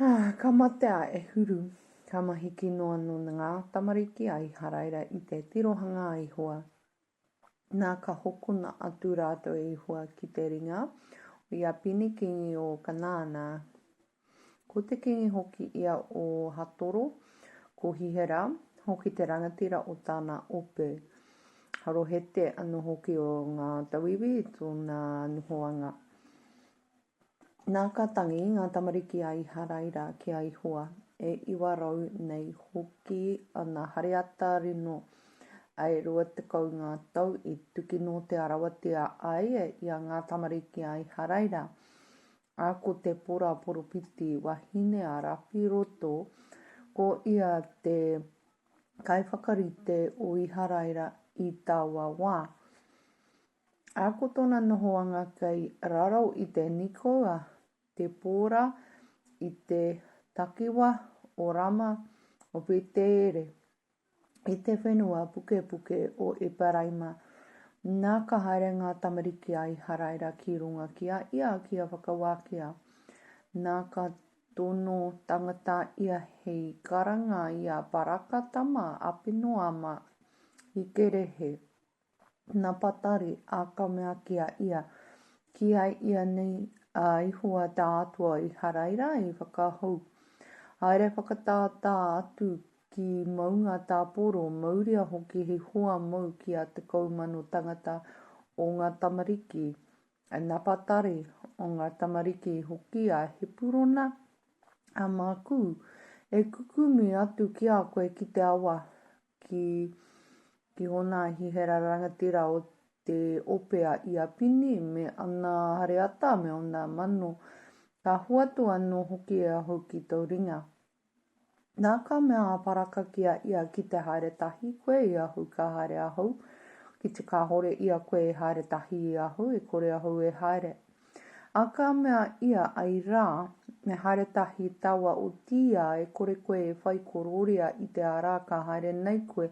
Ah, ka mate a Ehuru, ka mahi ki noa no ngā tamariki a Iharaira i te tirohanga a Ihowa. Nā ka hokona atu rātou e Ihowa ki te ringa o ia pini kingi o Kanaana, Ko te kīngi hoki ia o Hatoro, ko Hihera hoki te rangatira o tāna ope. Harohete anō hoki o ngā tauiwi i tōna nohoanga. Nā ka tangi ngā tamariki a Iharaira ki a Ihoa, e iwa rau nei hoki ana hareata rino, ae rua tekau ngā tau i tuki note arawatia ai ia ngā tamariki a Iharaira, A ko te pora poropiti wahine a Rapiroto, ko ia te kaiwhakarite o Iharaira i taua wā. A ko tona nohoanga kei raro i te Nikoua, te pora i te takiwa o Rama o Peteere, i te whenua pukepuke o Eparaima, nā ka haere ngā tamariki a Iharaira ki runga ki a ia kia whakawākia, nā ka tono tangata ia hei karanga i a Baraka tama a Pinoama i Kerehe, Na Patari a ka mea ki a ia, Ki ai ianei a Ihowa ta Atua Iharaira i whakahou. Haere whakatātā atu ki maunga ta Poro, mauria hoki he hoa mou ki a te kou mano tangata o nga tamariki a Napatari, o nga tamariki hoki a Hepurona, a maku, e kukumi atu ki a koe ki te awa ki Te Hona a Hihera Rangatira o Te Ope a Iapini me ana hareata me ona mano, ka hoatu anō hoki e ahau ki tō ringa. Nā ka mea a Paraka ki a ia ki te haere tahi koe i ahau ka haere ahau, ki te kāhore ia koe e haere tahi i ahau e kore ahau e haere. A ka mea ia, Ai ra, me haere tahi taua otiia e kore koe e whai kororia i te ara ka haere nei koe,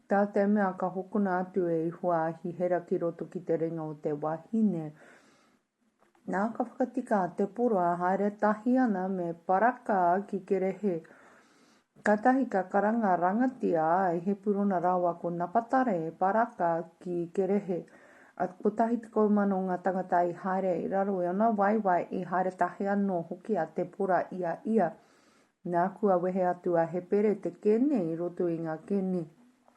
ta te mea ka hokona atu e Ihua a Hihera ki roto ki te ringa o te wahine. Na ka whakatika a Tepora haere tahi ana me Paraka ki Kerehe. Katahi ka karanga rangatia ai Hepurona rawa ko Napatare Paraka ki Kerehe. A, kotahi tekau mano nga tangata i haere i raro i ona waewae i haere tahi ano hoki a Tepora i a ia. Na, kua wehe atu a Hepere te kene i roto i nga kene.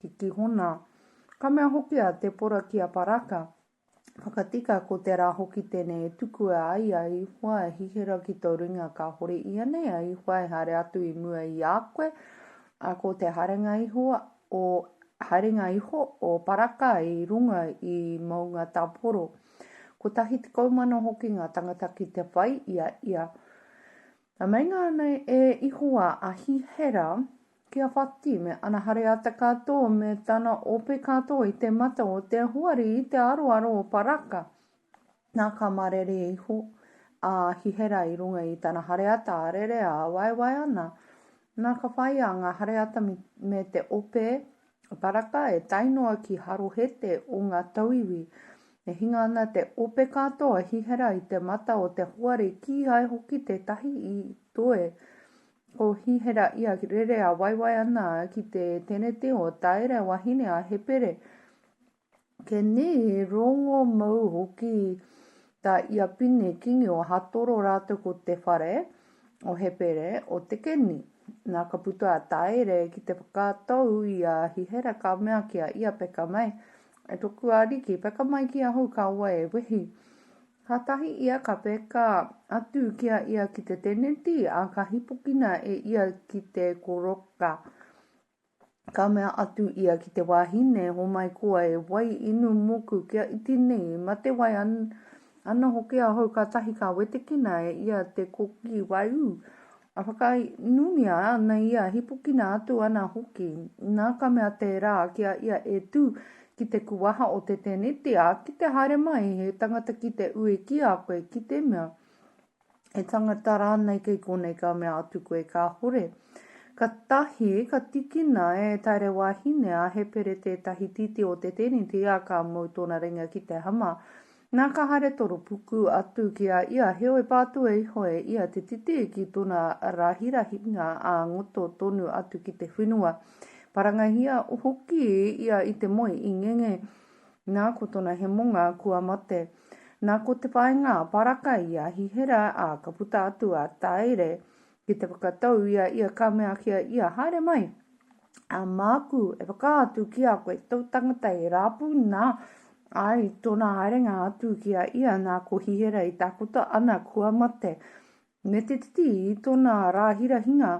ki Kihona. Ka mea hoki a Te Pora ki a Paraka, Whakatika ko te ra hoki tenei e tukua ai a Ihoa e hihira ki to ringa kahore ianei a Ihoa e haere atu i mua i a koe, a ko te haerenga iho o haerenga iho o Paraka i runga i Moungataporo. Kotahi tekau mano hoki nga tangata ki te whai i a ia. Na meinga ana e Ihoa a Hihera, Ki a Whati me ana hare ata katoa me tana ope katoa i te mata o te hoari i te aroaro o Paraka, na ka marere iho a Hihera i runga i tana hare ata a rere a waewae ana. Na ka whaia nga hare ata me te ope a Paraka e tae noa ki Harohete o nga tauiwi. E hinga ana te ope katoa a Hihera i te mata o te hoari kihai hoki tetahi i toe Ko Hihera ia rere a waiwai ana ki te teneti o Taere, wahine a Hepere. Ke ni rongo mou hoki ta ia Pine, kingi o Hatoro ratou ko te whare o Hepere, o te keni. Na ka puta a Taere ki te whakatou i a Hihera ka mea ki a ia, Peka mai, e toku ariki, peka mai ki ahau kaua e wehi. Kātahi ia ka peka atu ki a ia ki te teneti, ā, ka hīpokina e ia ki te koroka. Ka mea atu ia ki te wāhine, Homai koa e wai inu mōku kia iti nei, mate wai ana hoki ahau kātahi ka wetekina e ia te koki waiū A whakainumia ana ia, hipokina atu ana hoki. Nā ka mea tērā ki a ia e tū ki te kuwaha o te tēneti, ā, ki te haere mai he tangata ki te ue ki a koe, ki te mea, he tangata rānei kei konei ka mea atu koe kāhore. Katahi, ka tikina e Tairewahine a Hepere tētahi titi o te tēneti, ā, ka mau tōna ringa ki te hama. Nā ka haere toropuku atu ki a ia, heoi pātua iho e ia te titi ki tona rahirahinga ā ngoto tonu atu ki te whenua. Parangahia hoki ia i te moe i ngenge, nā ko tona hemonga kua mate. Nā ko te whainga paraka i a Hihera ā ka puta atu a Taere ki te whakatou i a ia ka mea ki a ia, Haere mai! a māku e whakaatu ki a koe tō tangata e rāpū nā, ai tōna haerenga atu ki a ia nā ko Hihera i tākota ana kua mate. Me te titi i tōna rāhirahinga,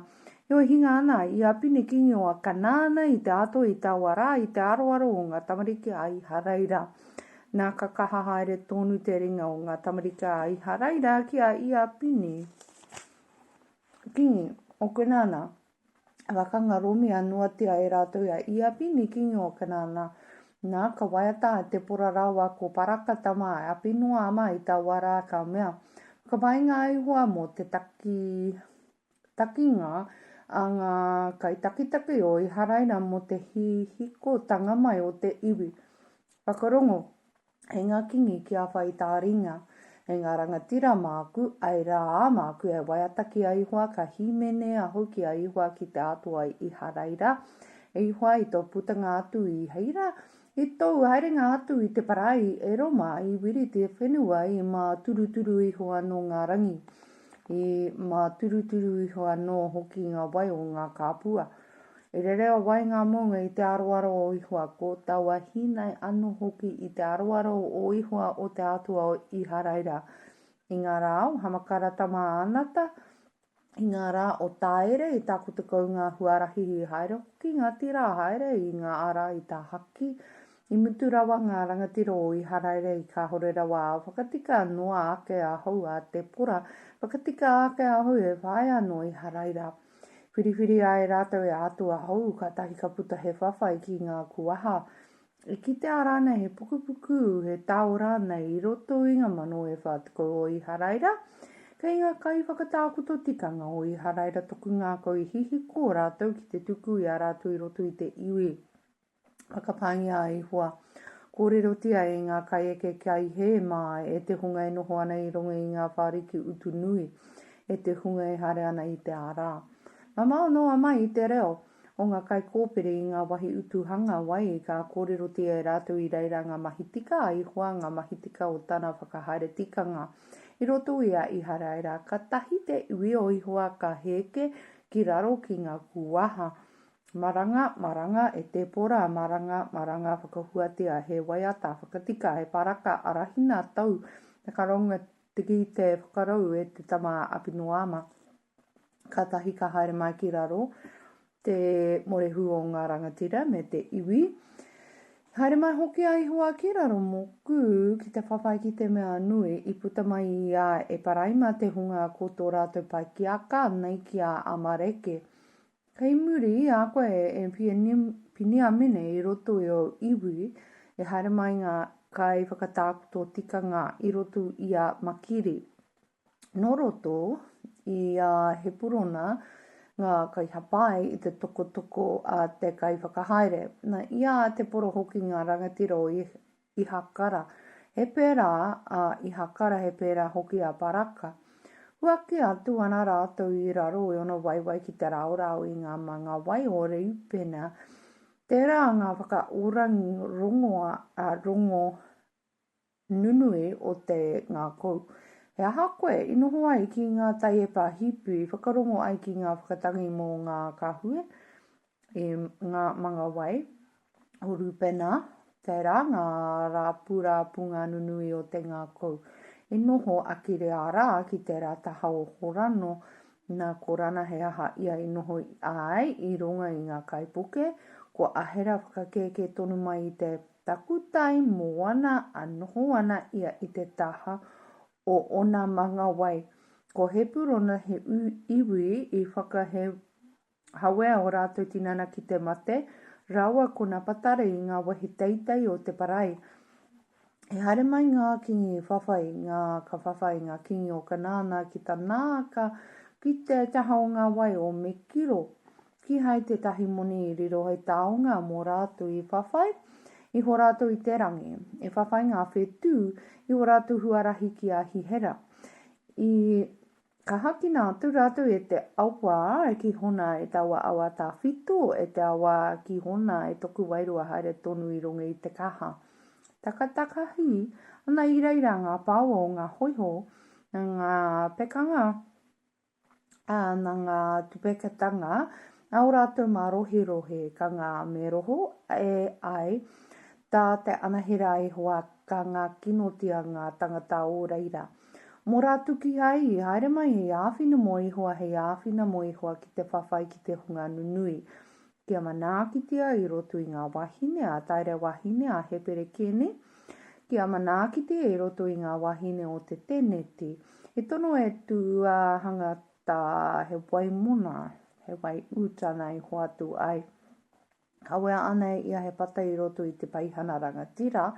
heoi hinga ana i a Pine Kingi o Akanaana i te ātoi i taua rā i te aroaro o ngā tamariki a Iharaira. Nā ka kaha haere tōnu te ringa o ngā tamariki a Iharaira ki a ia Pine Kingi o Kenaana. Ka kangaromia noatia e rātou a Iapini, kīngi o Kanaana, nā, ka waiata a Tepora rāua ko Paraka tama a Apinoāma i taua rā, ka mea, Ka painga a Ihowa mō te taki, takinga a ngā kaitakitaki o Iharaira mō te hihikotanga mai o te iwi. Whakarongo, Hei ngā kīngi ki a whai i tā ringa, hei ngā rangatira māku, āe rā, ā māku e waiata ki a Ihoa, ka hīmene ahau ki a Ihoa ki te Atua i Iharaira, E Ihoa, i tō putanga atu i Heira, i tōu haerenga atu i te parai, e Roma, i wiriti e whenua, i māturuturu iho anō ngā rangi. He māturuturu iho anō hoki ngā wai o ngā kāpua. E rere a wai ngā mounga i te aroaro o Ihoa, ko taua hīnai anō hoki i te aroaro o Ihoa o te Atua o Iharaira. I ngā rā o Hamakara tama a Anata, i ngā rā o Tāere i tākoto kau ngā huarahi i haere hoki ngā tira haere i ngā ara i tāhaki I mutu rawa ngā rangatira o Iharaira i kāhore rawa ā, whakatika noa ake ahau a Tepora, whakatika ake ahau he whaea nō Iharaira. Whiriwhiri ai rātou e ātu ahau, kātahi ka puta he whawhai ki ngā kuaha. E kitea rānei he pukupuku, he tao rānei i roto i ngā mano e whā tekau o Iharaira? Kei ngā kaiwhakatākoto tikanga o Iharaira toku ngākau i hihiko rātou ki te tuku i a rātou i roto i te iwi. Whakapāngia a Ihowa. Kōrerotia e ngā kaieke kia i hē mā e te hunga e noho ana i runga i ngā whāriki utu nui, e te hunga e haere ana i te ārā. Mamao noa mai i te reo o ngā kaikōpere i ngā wahi utu hanga wai, ka kōrerotia e rātou i reira ngā mahi tika a Ihowa, ngā mahi tika o tana whakahaere tikanga. I roto i a Iharaira, ka tahi te iwi o Ihowa ka hēke ki raro ki ngā kūwaha Maranga, maranga, e tēpora, maranga, maranga, whakahuatia, he waiata, whakatika, he paraka, arahina, tau, te karonga, tiki, te whakarau, e te tama a Apinoama. Kātahi ka haere mai ki raro te morehu o ngā rangatira me te iwi. Haere mai hoki a Ihoa ki raro moku ki te whawhai ki te mea nui. I puta mai i a Eparaima te hunga ko tō rātou pai ki a Ka, nei ki a Amareke. Kei muri i a koe e Piniamine i roto i ōu iwi, e haere mai ngā kaiwhakatakoto tikanga i roto i a Makiri. Nō roto i a Hepurona ngā kaihapai i te tokotoko a te kaiwhakahaere, na, i a te poro hoki ngā rangatira o Ihakara, he pērā a Ihakara, he pērā hoki a Baraka. Huaki atu ana rātou i raro i ono waewae ki te raorao i ngā manga wai o Reupena. Tērā ngā whakaorangi rongoa, ā, rongo nunui o te ngākau. He aha koe i noho ai ki ngā taiepa hipi whakarongo ai ki ngā whakatangi mō ngā kahue? i ngā manga wai o Rūpena, tērā ngā rāpurāpunga nunui o te ngākau. I noho a Kireārā ki tērā taha o Horano, nā ko Rana he aha ia i noho ai i runga i ngā kaipuke, ko Ahera whakakēkē tonu mai i te takutai moana a noho ana ia i te taha o ōna manga wai. Ko Hepurona he iwi i whakahe Hawea o rātou tinana ki te mate, rawa ko Napatari i ngā wahi teitei o te parai. I haere mai ngā kingi whawhai, ngā ka whawhai ngā kingi o Kanaana ki Tanaaka, ki te taha o ngā wai o Mekiro. Kihai tētahi moni i riro hei taonga mō rātou i whawhai, iho rātou i te rangi. I whawhai ngā whetū, iho rātou huarahi ki a Hihera. I. Ka hakina atu rātou e te awa ki hona e taua awa tāwhito, e te awa ki hona e toku wairua haere tonu i runga i te kaha. Takatakahi ana i reira ngā pāua o ngā hoiho, na ngā pekanga, ā, na ngā tupeketanga a o rātou mārohirohi, ka ngā me roho e ai tā te anahera a Ihowa, ka ngākinotia ngā tangata o reira. Mō rātou kīhai i haere mai hei āwhina mō Ihoa, hei āwhina mō Ihoa ki te whawhai ki te hunga nunui, kia manaakitia i roto i ngā wāhine a Taere wāhine a Hepere Kene, kia manaakitia i roto i ngā wāhine o te tēneti, he tono e tū a hanga tā he wai mona, he wai ū tāna i hoatu ai. Kawea ana e ia he pata i roto i te peihana rangatira,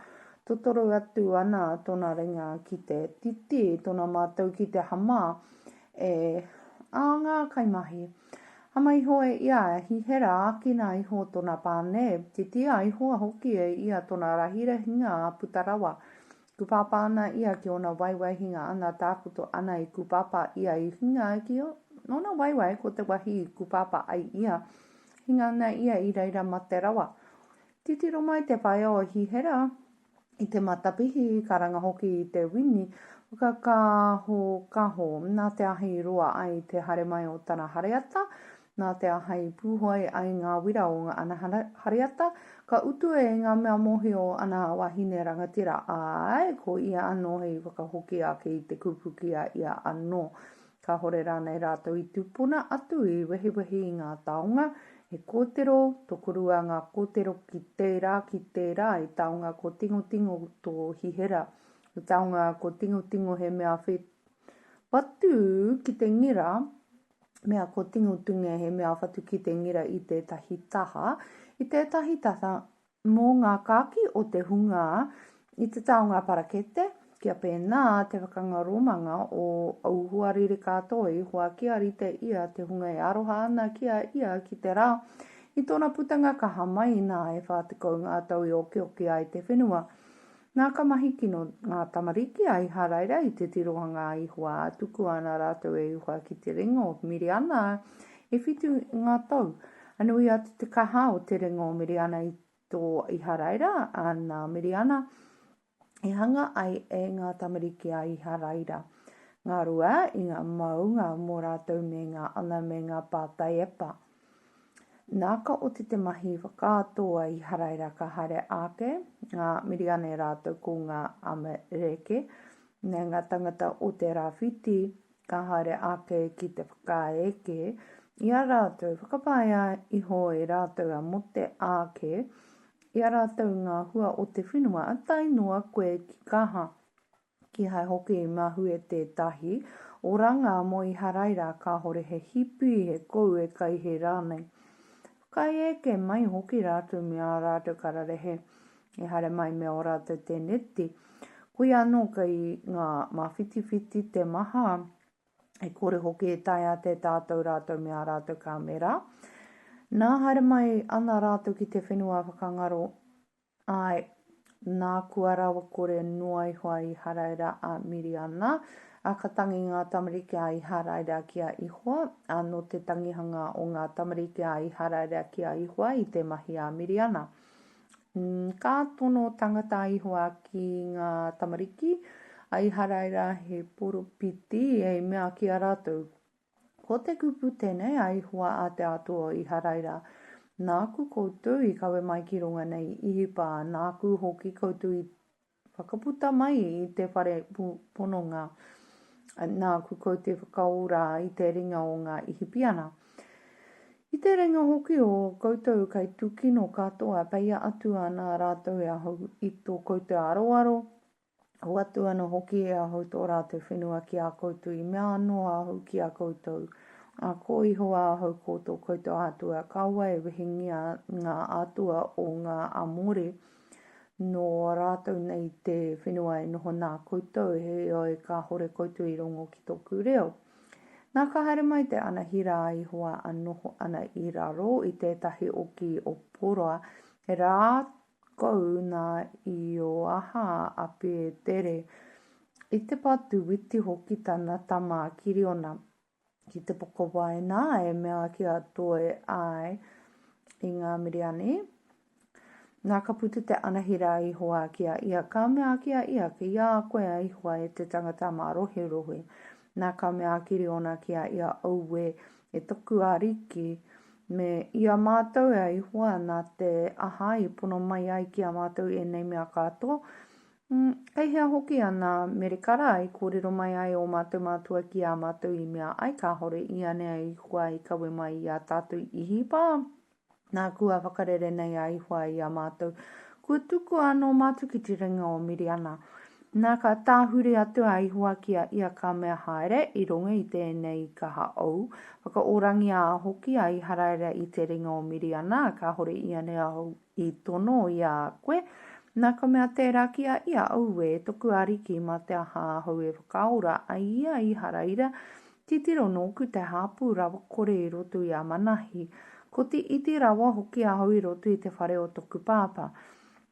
totoro atu ana tona ringa ki te titi, tona matou ki te hama e a nga kaimahi. Hama iho e ia, hihera, akina iho tona pane, titia iho hoki e ia tona rahirahinga puta rawa. Kupapa ana ia ki ona waewae hinga ana takoto ana i kupapa ia i hinga ai ki ona waewae ko te wahi i kupapa ai ia hinga ana ia i reira mate rawa. Titiro mai te whaea o Hihera i te matapihi i karanga hoki i te wini whakakahokaho na te ahi i roa ai te hare mai o tana hareata Nā te aha i pūhoi ai ngā wira o ngā ana hareata, ka utua e ngā mea mōhio ana a Wahine Rangatira, āe, ko ia anō hei whakahoki ake i te kupu ki a ia anō. Kāhore rānei rātou i tūpuna atu i wehiwehi i ngā taonga, he kōtero tokorua ngā kōtero ki tērā, ki tērā, he taonga ko Tingotingo tō hihera, he taonga ko Tingotingo he mea whē patu ki te ngira, mea ko Tingotunge he mea whatu ki te ngira i tētahi taha, i tētahi taha mō ngā kāki o te hunga i te taonga parakete, kia pēnā te whakangaromanga o au hoa ririka toi, hoa kia rite ia te hunga e aroha ana ki a ia ki te rā. I tōna putanga kaha mai, nā e whā tekau ngā tau i okeoke ai te whenua, Nā, ka mahi kino ngā tamariki a Iharaira i te tirohanga a Ihowa, ā, tukua ana rātou e Ihowa ki te ringa o Miriana, ā, e whitu ngā tau. Ā, nui atu te kaha o te ringa o Miriana i tō Iharaira, ā, nā Miriana i hanga ai e ngā tamariki a Iharaira, ngā rua i ngā maunga mō rātou me ngā ana me ngā pātai e pa. Nā ka oti te mahi whakaatoa i haraira ka haere ake ngā Miriane rātou ko ngā Amereke. Nā ngā tangata o te rāwhiti ka haere ake ki te whakaeke i a rātou, whakapaea iho e rātou a Mote ake i a rātou ngā hua o te whenua tae noa koe ki kaha. Kihai hoki i mahue tētahi oranga mō Iharaira kāhore he hipi, he kou e kai hē rānei. Whakaae eke mai hoki rātou me ā rātou kararehe i haere mai me ō rātou tēneti. Koia anō kei ngā māwhitiwhiti te maha, e kore hoki e taea te tatau rātou me ā rātou kāmera. Nā haere mai ana rātou ki te whenua whakangaro Āe, nā kua rawakore noa iho a Īharaira a Miriana, ā, ka tangi ngā tamariki a Īharaira ki a Ihoa, ā, nō te tangihanga o ngā tamariki a Īharaira ki a Ihoa i te mahi a Miriana. Ī, ka tono tangata a Ihoa ki ngā tamariki a Īharaira he poropiti, hei mea ki a rātou, Ko te kupu tenei a Ihowa a te Atua o Iharaira, Nāku koutou i kawe mai ki runga nei i Ihipa, nāku hoki koutou i whakaputa mai i te whare pononga, nāku koutou whakaora i te ringa o ngā Ihipiana. I te ringa hoki o koutou kai tukino katoa, peia atu ana rātou e ahau i tō koutou aroaro, Hoatu ana hoki e ahau tō rātou whenua ki a koutou, i mea anō ahau ki a koutou, Ā, ko Ihowa ahau ko tō koutou Atua, kāua e wehengia ngā atua o ngā Amore nō rātou nei te whenua e noho nā koutou, heoi, kāhore koutou i rongo ki tōku reo. Nā, ka haere mai te Anahira a Ihowa a noho ana i raro i tētahi oki o Poroa, rā kou nā i ō aha a Pētere, i te patu witi hoki tana tama a Kiriona, ki te pokawai nā e mea ki a Toe āe i ngā Miriani. Nā ka puta te anahera a Ihowa ki a ia, ka mea ki a ia, ki a koe a Ihowa e te tangata mā roherohe. Nā ka mea a Kiriona ki a ia, Auē, E toku Ariki, me i a mātou a Ihowa nā te aha i pono mai ai ki a mātou ēnei mea kāto, kei hea hoki ana merekara i kōrero mai ai ō mātou mātua ki a mātou i mea ai kāhore ianea Ihowa i kawe mai i a tātou Ihipa? Nā, kua whakarere nei a Ihowa i a mātou, Kua tukua anō mātou ki te ringa o Miriana. Nā, ka tāhuri atu a Ihowa ki a ia ka mea, Haere, i runga i tēnei kaha ou, whakaorangia hoki a Iharaira i te ringa o Miriana, kāhore i a nei ahau i tono i a koe. Nā, ka mea tērā ki a ia, Auē, toku ariki, mā te aha ahau e whakaora ai i a Iharaira, Titiro nōku te hāpū rawa kore i roto i a Manahi, ko te iti rawa hoki ahau i roto i te whare o toku pāpā.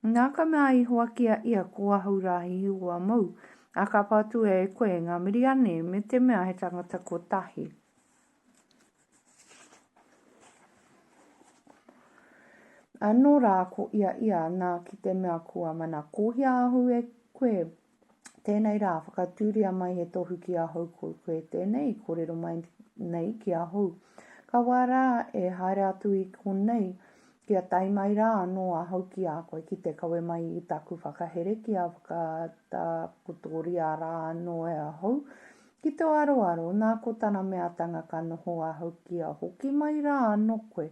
Nā ka mea a Ihowa ki a ia, Ko ahau rā he Ihowa mōu, a ka patua e koe, nga Miriane, me te mea he tangata kotahi. Ano rā ko ia ia, nā ki te mea kua mana kohia ahau e koe, Tēnei rā, whakatūria mai he tohu ki ahau ko koe tēnei, kōrero mai nei ki ahau. Ka wā rā e haere atu i konei, kia tae mai rā anō ahau ki a koe ki te kawe mai i taku whakahere kia whakatakotoria rā anō e ahau. Ki tō aroaro, nā ko tana meatanga ka noho ahau kia hoki mai rā anō koe.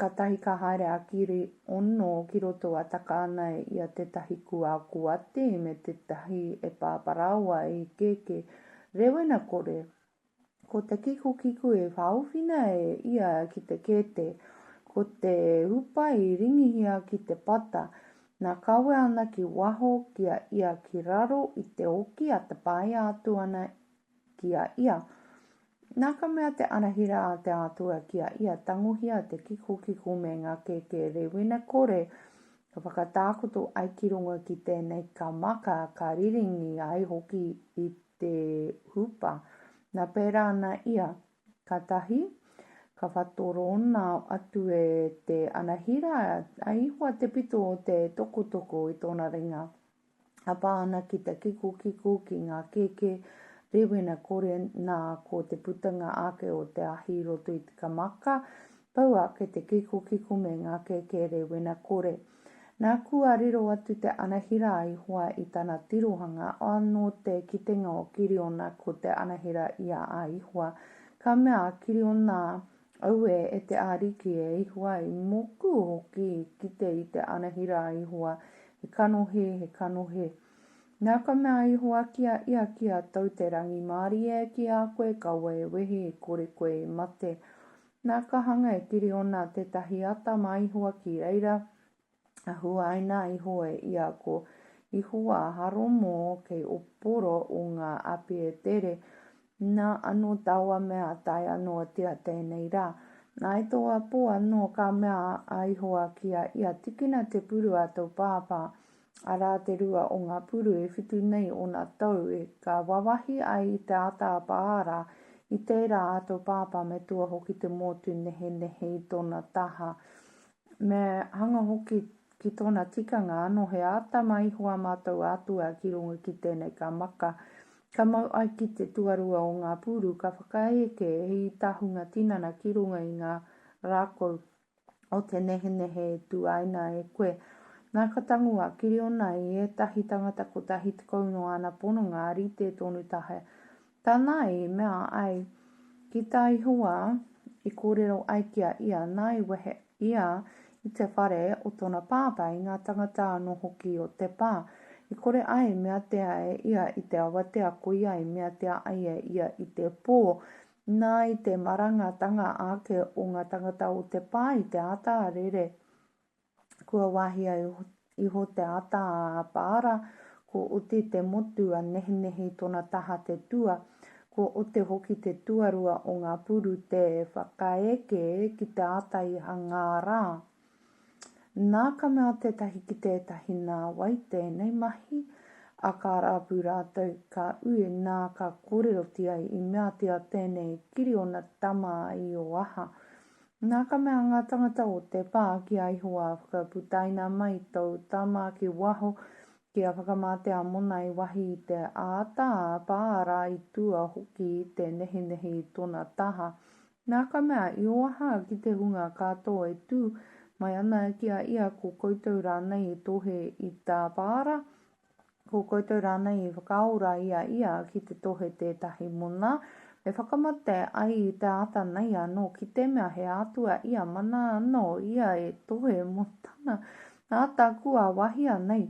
Katahi ka haere a Kiri ono ki roto a Takaanei i a tetahi kua kuati me tetahi e paparaawa e ikeke. Rewena kore, ko te kikukiku e whaawhina e ia ki te kete, ko te hupa i ringihia ki te pata, na kawe ana ki waho ki a ia ki raro i te oki a tapaia atu ana ki a ia. Nā ka mea te anahera a te Atua ki a ia, tangohia te kikokiko me ngā kēkē rēwina kore, ka whakatākoto ai ki runga ki tēnei, ka maka, ka riringi ai hoki i te hupa. Nā pērā ana ia, ka tahi, ka whatorona atu e te anahera a Ihoa te pito o te tokotoko i tōna ringa. a pā ana ki te kikokiko ki ngā kēkē rēwena kore nā ko te putanga ake o te ahi i roto i te kamaka, pau ake te kikokiko me ngā kēkē rēwena kore. Nā kua riro atu te anahera a Ihowa i tana tirohanga, anō te kitenga o Kiriona ko te anahera i a a Ihowa, ka mea a Kiriona Auē e te Ariki, e Ihowa, i moku hoki i kite i te anahira a Ihowa, he kanohi, he kanohi. Na ka mea a Ihowa ki a ia, Ki a tou te rangimārie ki a koe kaua e wehi i kore koe i mate. Na ka hanga e Kiriona tetahi ata ma Ihowa ki reira, a huaina iho e ia ko Ihowa haromo kei o poro o nga api e tere, na ano taua mea tae ano te a tenei ra. Na i toa po ano ka mea a Ihowa ki a ia, Tikina te puru a tou pāpā, ara te rua o nga puru e whitu nei ona tou e ka wawahi ai i te ataapa ara, i tera a tou pāpā me tua hoki te motu nehenehe i tona taha, Me hanga hoki ki tōna tikanga anō he āta maiho a mātou Atua ki runga ki tēnei ka maka, ka mau ai ki te tuarua o ngā pūru ka whakaeke hei tahunga tinana ki runga i ngā rākau o te nehenehe e tuaina e koe. Nā ka tango a Kiriona i ētahi tangata kotahi tekau nō āna pononga rite tonu tahi Tana i mea ai ki tā Ihowā, i kōrero ai ki a ia, nā i wehe ia i te whare o tōna pāpā, i ngā tāngata anō hoki o te pā, i kore ai i meatea e ia i te awatea, koia i meatea ai e ia i te pō, nā i te marangatanga ake o ngā tāngata o te pā i te āta rere Kua wāhia iho te ata a Apaara, ko Oti te motu a Nehinehi tona taha te tua, ko Ote hoki te tuarua o nga puru te whakaeke ki te ata i hangā ra. Na ka mea tetahi ki tetahi Na wai tenei mahi? A ka rapu ratou ka ui na ka korerotia i meatia tenei kiri ona tama i o aha? Nā ka mea ngā tangata o te pā ki a Ihowa, Whakaputaina mai tōu tama ki waho, kia whakamate a Mona i wahi i te āta pā, arā, i tua hoki i te nehinehi i tōna taha. Nā ka mea Ihoaha ki te hunga kātō e tū mai ana ki a ia, Ko koutou rānei e tohe i tāpāra? Ko koutou rānei i whakaao rā i a ia ki te tohe tētahi mona? Me whakamate ai i te āta nei anō ki te mea he Atua ia mana anō ia e tohe mō tana āta kua wahia nei.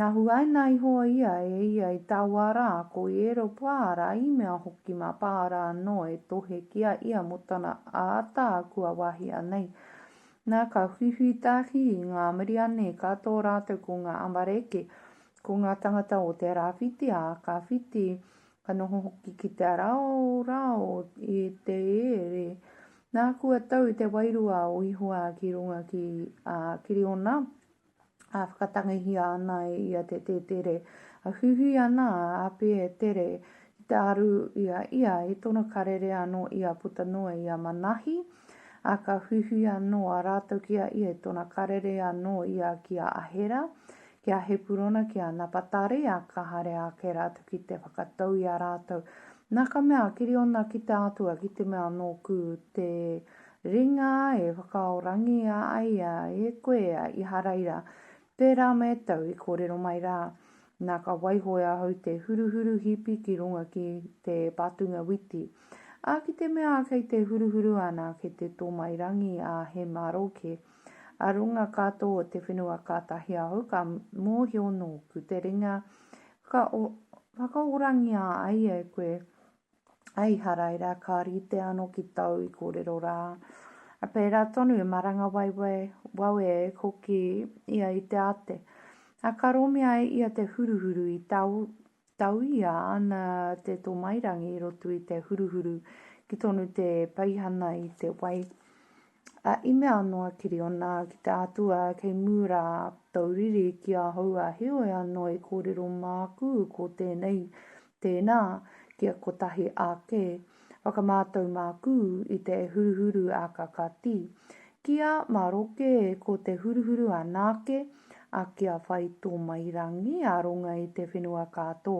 Na huaina iho ia e ia i taua rā, ko Ieropa rā, i mea hoki mā Paara anō e tohe ki a ia mō tana āta kua wahia nei. Na, ka huihui ta Hi, nga Miriane, ka to ratou ko nga Amareke, ko nga tangata o te rawhiti, a ka whiti, ka noho hoki ki te raorao i te ere. Na, kua tau te wairua o Ihowa ki runga ki a Kiriona, ā, whakatangihia ana e ia te tētere, ā, huihui ana a Api e Tere ki te aru i a ia, i tōna karere anō i a puta noa i a Manahi, ā, ka huihui anō a rātou ki a ia i tōna karere anō i a ki a Ahera, ki a Hepurona, ki a Napatari, ā, ka haere ake rātou ki te whakatau i a rātou, nā ka mea, Kiriona ki te Atua, ki te mea nōku te Ringa e whakaorangia ai a e koe a Iharaira, tērā me tau i kōrero mai rā, nā ka waiho e ahau te huruhuru hipi ki runga ki te patunga witi. Ā, ki te mea kei te huruhuru ana ki te tōmairangi a He Maroke, a runga katoa o te whenua kātahi ahau ka mōhio nōku te ringa whakaorangia ai e koe, Hei haraira, ka rite ano ki tou i korero ra. Pera tonu e maranga waiwai, wawe e koki ia i te ate. A ka romi ai ia te huruhuru i tau, tauia ana te tomairangi i roto i te huruhuru ki tonu te peihana i te wai. Ā, i mea anō a Kiriona ki te Atua, Kei mū rā tōu riri ki ahau, ā, heoi anō e kōrero māku ko tēnei, Tēnā, kia kotahi ake, whakamātau māku i te huruhuru a ka kati. Ki a Maroke, ko te huruhuru anake, ā, kia whai tō mai rangi, aronga i te whenua ka tō.